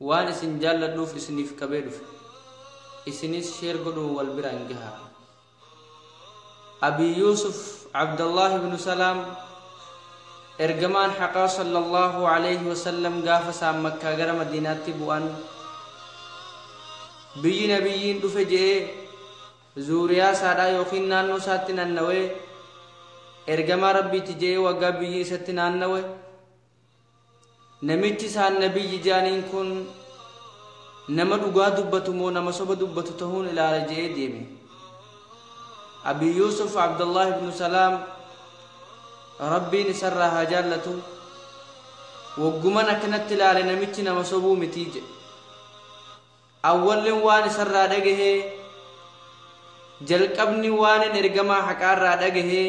Waan isin jaalladhuuf isiniif qabee dhufe. Isinis share godhuun wal biraan gahaa. Abii Yuusuf Abdallaah ibnu Salaam Ergamaan haqaa sallallahu alayhi wa sallam gaafa isaan Makkaa gara Madiinaatti bu'an biyyi nabiyyiin dhufe je'ee zuuriyaa isaadhaa yookiin naannoo isaatti nannawee ergamaa rabbiiti je'ee waggaa biyyi isatti naannawe Namichi isaan Nabiyyi je'aniin kun nama dhugaa dubbatu moo nama soba dubbatu tahuun ilaala je'ee deeme. Abii Yuusuf Abdallaah ibnu Salaam Rabbiin isarraa haa jaallatu wogguman akkanatti ilaale namichi nama sobuu mitii je'e. Awwallin waan isarraa dhagahee jalqabni waanin ergamaa haqaarraa dhagahee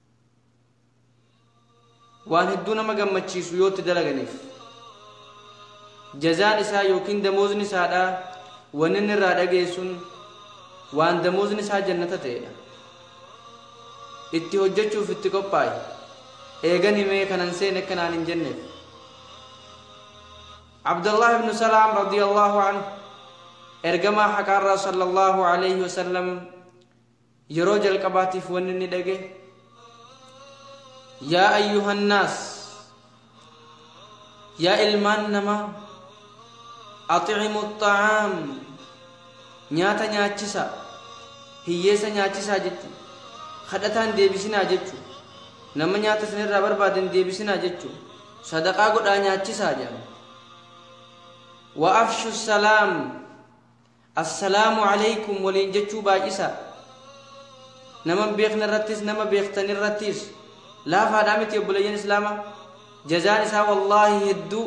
waan hedduu nama gammachiisu yoo itti dalaganiif jazaan isaa yookiin damoozni isaadhaa wanni inni irraa dhageessun waan damoozni isaa jannata ta'edha itti hojjechuuf itti qophaa'e eegan himee kanan seen akka naan hin jenneef abdallah ibnu salaam radiyallahu anhu ergamaa haqaarraa sallallahu alayhi wasallam Yeroo jalqabaatiif wanni inni dhagaye yaa ayyuhannaas yaa ilmaan namaa aximu xa'aam nyaata nyaachisaa hiyyeessa nyaachisaa jechu kadhataan deebisinaa jechu nama nyaata isinirraa barbaadan deebisinaa jechu sadaqaa godhaa nyaachisaa jedhan wa afshu salaam Assalaamu Aleykum waliin jechuu baay'isaa. Nama hin beekne irrattis nama beektan irrattis laafaadhaa miti obboleeyyan Islaamaa. Jazaan isaa wallaahi hedduu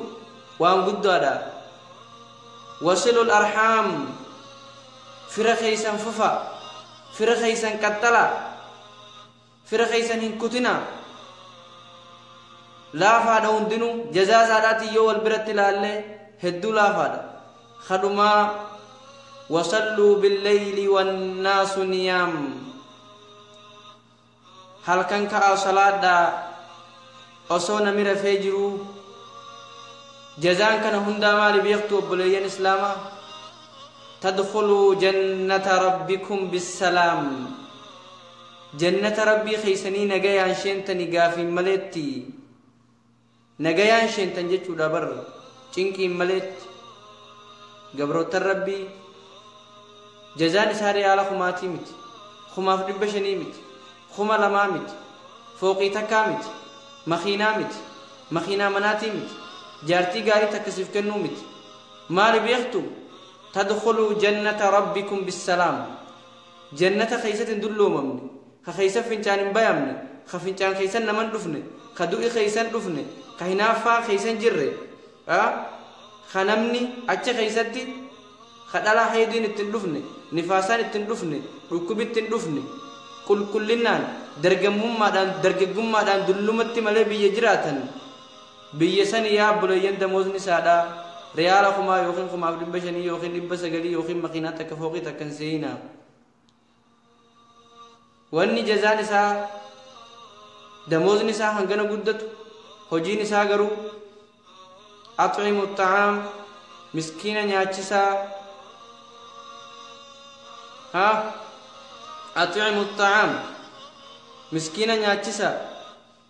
waan guddaadha. Wasilul arhaam fira keessan fufa, fira keessan qaxxala. Fira keessan hin kutinaa. Laafaadha hundinuu jazaa isaadhaatiin yoo wal biratti ilaalle hedduu laafaadha. Kadhumaa wasalluu billeyli wannaasu niyaam. Halkan ka'aa salaadhaa osoo nami rafee jiruu jazaan kana hundaa maali beektu obboleeyyan islaamaa? Tadkhuluu jannata rabbikum bissalaam. Jannata Rabbii keessanii nagayaan sheentani gaafiin maleetti. Nagayaan sheentan jechuudha bar cinqiin maleetti. Gabroottan Rabbii jazaan isaa riyaala kumaatii miti. Kumaaf dhibba shanii miti. Kuma lamaa miti. Fooqii takkaa miti. Makiinaa miti. Makiinaa manaatii miti. Jaartii gaarii takka siif kennuu miti. Maali beektu? Tadkhuluu jannata rabbikum bissalaam. Jannata keeysatti hin dulloomamne, ka keeysan fincaan hin bayamne, ka fincaan keeysan naman dhufne, ka du'i keeysan dhufne, ka hinaaffaan keeysan jirre, ka namni achi keeysatti ka dhalaa haydiin itti hin dhufne, nifaasaan itti hin dhufne, dhukkubi itti hin dhufne, qulqullinnaan, dargammummaadhaan, dargaggummaadhaan dullumatti malee biyya jiraatan, Biyya sani yaa obboleeyyan damoozni saadha riyaala kumaa yookiin kumaaf dhibba shanii yookiin dhibba sagalii yookiin makiinaa takka fooqii takka hin seeyina. Wanni jazaan isaa damoozni isaa hangana guddatu hojiin isaa garuu axcimu xacaam miskiina nyaachisaa ha axcimu xacaam miskiina nyaachisaa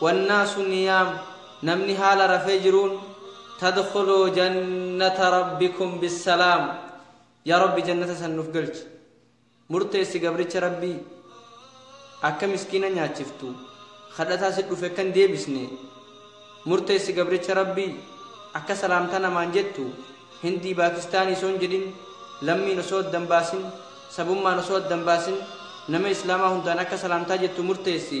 Wannaasu niyaam, namni haala rafee jiruun, tadkhuluu jannata rabbikum bissalaam, yaa Rabbi jannata san nuf galchi. Murteessi gabricha Rabbii, akka miskiina nyaachiftu, khadhataa sit dhufe akka hin deebisne, murteessi gabricha Rabbii, akka salaamta namaan jettu, Hindii Baakistaanii osoo hin jedhin, lammiin osoo adda hin baasin, sabummaan osoo adda hin baasin, nama islaamaa hundaan akka salaamtaa jettu murteessi.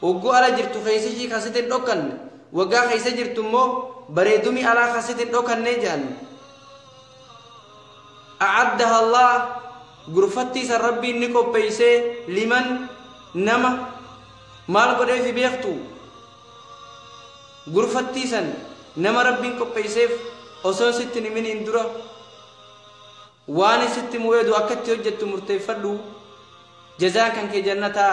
Hogguu ala jirtu keesishii ka sit hin dhokkanne, woggaa keessa jirtu immoo bareedumii alaa ka sit hin dhokkannee je'an. A'addaha Allah gurfattii san Rabbiin ni qopheeysee liman nama maal godheef hi beektu? Gurfattii san nama Rabbiin qopheeyseef osoon sitti hin himiniin dura waan sitti mu'eedu akkatti hojjettu murteeffadhu jazaan kan kee jannataa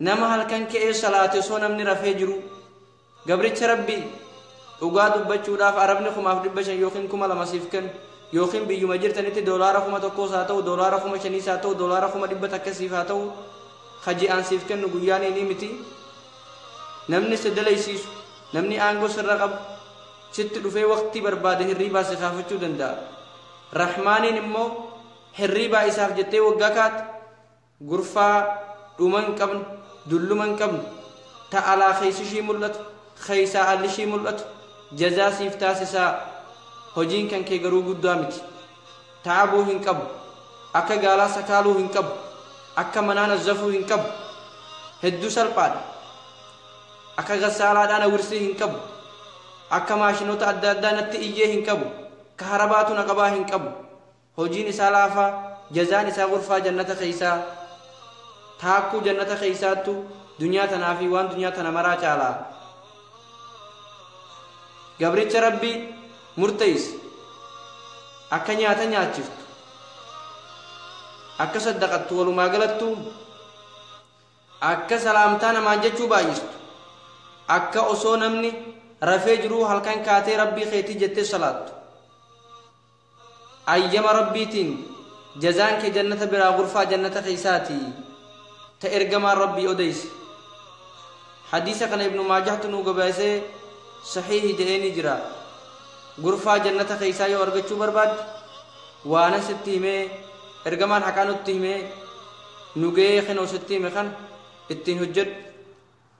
Nama halkan ka'ee salaate osoo namni rafee jiruu. Gabricha Rabbii dhugaa dubbachuudhaaf Arabni kumaaf dhibba shan yookiin kuma lama siif kennu yookiin biyyuma jirtanitti doolaara kuma tokkoos haa ta'u doolaara kuma shaniis haa ta'u doolaara kuma dhibba takka siif haa ta'u ka ji'aan siif kennu guyyaan inni miti namni si dalaysiisu namni aangoo sirra qabu sitti dhufee waqtii barbaade hirriibaa si kaafachuu danda'a rahmaaniin immoo hirriibaa isaaf jettee waggaa kaate Gurfaa dhuma hin qabne, dulluma hin qabne, ta alaa keessi ishii mul'atu, keessaa alli ishii mul'atu jazaa siif taasisaa, hojiin kan kee garuu guddaa miti. Ta'abuu hin qabu, akka gaalaa sakaaluu hin qabu, akka manaa nazzafuu hin qabu, hedduu salphaadha. Akka gassaalaadhaa na wirsii hin qabu, akka maashinoota adda addaa natti iyyee hin qabu, ka harabaatu na qabaa hin qabu. Hojiin isaa laafaa, jazaan isaa gurfaa jannata keessaa, taakkuu jannata keessaattu dunyaa tanaa fi waan dunyaa tana maraa caala. Gabricha Rabbii murteessi. Akka nyaata nyaachiftu. Akka saddaqattu walumaa galattu. Akka salaamtaa namaan jechuu baay'istu. Akka osoo namni rafee jiruu halkan kaatee Rabbii keetii jettee salaattu. Ayyama Rabbiitiin jazaan kee jannata biraa gurfaa jannata keessaati ta ergamaan Rabbii odeyse. Hadiisa kana Ibnu Maajahtu nuu gabaasee sahiihi je'eenii jira. Gurfaa jannata keessaa yoo argachuu barbaadde waanan sitti himee ergamaan haqaa nutti himee nu ga'ee kinoo sitti hime kan ittiin hojjedhu.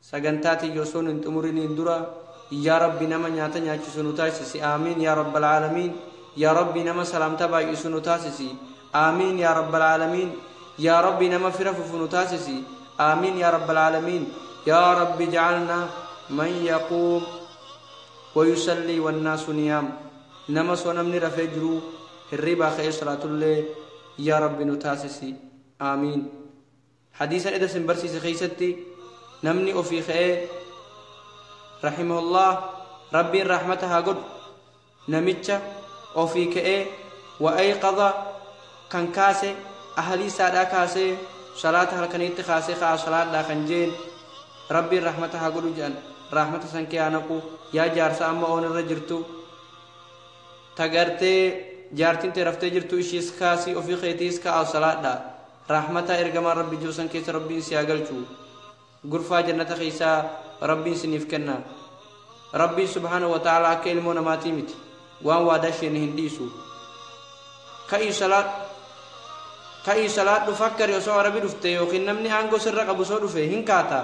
Sagantaa tiyya osoon hin xumuriniin dura Yaa Rabbi nama nyaata nyaachisu nu taasisi Aamiin Yaa Rabbal Aalamiin Yaa Rabbi nama salaamtaa baay'isu nu taasisi Aamiin Yaa Rabbal Aalamiin Yaa Rabbi nama fira fufu nu taasisi Aamiin Yaa Rabbal Aalamiin Yaa Rabbi ja'alna man yaquum wayusallii wannaasu niyaam nama soo namni rafee jiruu hirriibaa ka'ee salaatullee Yaa Rabbi nu taasisi Aamiin Hadiisa eda sin barsiise keessatti namni ofii ka'ee rahimahullah rabbiin rahmata haa godhu namicha ofii ka'ee wa'ayqadha kan kaase ahalii isaadhaa kaasee salaata halkaniitti kaasee ka'a salaadhaa kan jeen rabbiin rahmata haa godhu jedhan rahmata san kee haa naqu yaa jaarsa amma oon irra jirtu tagartee jaartiin tee raftee jirtu ishiis kaasii ofii keetiis ka'a salaadhaa Rahmataa ergamaan rabbi jiru san keessa rabbiin si haa galchu gurfaa jannata keessaa rabbiin siniif kenna rabbiin subhaanahu wa ta'ala akka ilmoo namaatii miti waan waadaa sheene hin dhiisu ka'ii salaat ka'ii salaadhu fakkari osoo arabi dhufte yookiin namni aangoo sirra qabu osoo dhufe hin kaata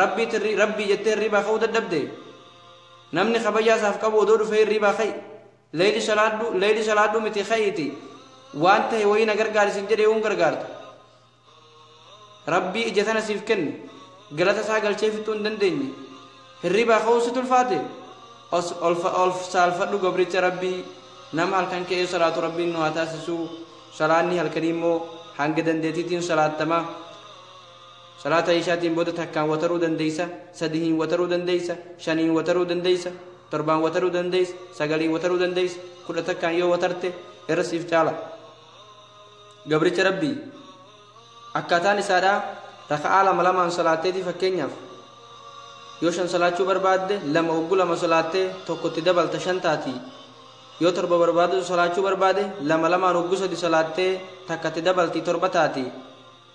rabbii tirri rabbii jettee hirriibaa ka'uu dadhabde namni kabajaa isaaf qabu odoo dhufee hirriibaa ka'i Leyli salaadhu leyli salaadhu miti ka'iiti waan tahe wayii na gargaari sin jedhe yoo hin gargaartu rabbii ija tana siif kenne galata isaa galchee fixuu hin dandeenye hirribaa ka'uun situ ulfaate os olfa olf saalfadhu gabricha rabbii nama halkan ka'ee salaatu rabbiin nu haa taasisuu salaanni halkanii immoo hanga dandeetiitiin salaattama Salaata Ishaatiin booda takkaan wataruu dandeeysa, sadihiin wataruu dandeeysa, shaniin wataruu dandeeysa, torbaan wataruu dandeeysa, sagaliin wataruu dandeeysa, kudha takkaan yoo watarte irra siif caala. Gabricha Rabbii akkaataan isaadhaa raka'aa lama lamaan salaatteetii fakkeenyaaf yoo shan salaachuu barbaadde lama oggu lama salaattee tokkotti dabalta shan taatii yoo torba barbaaddu salaachuu barbaade lama lamaan oggu sadi salaattee takkatti dabaltii torba taatii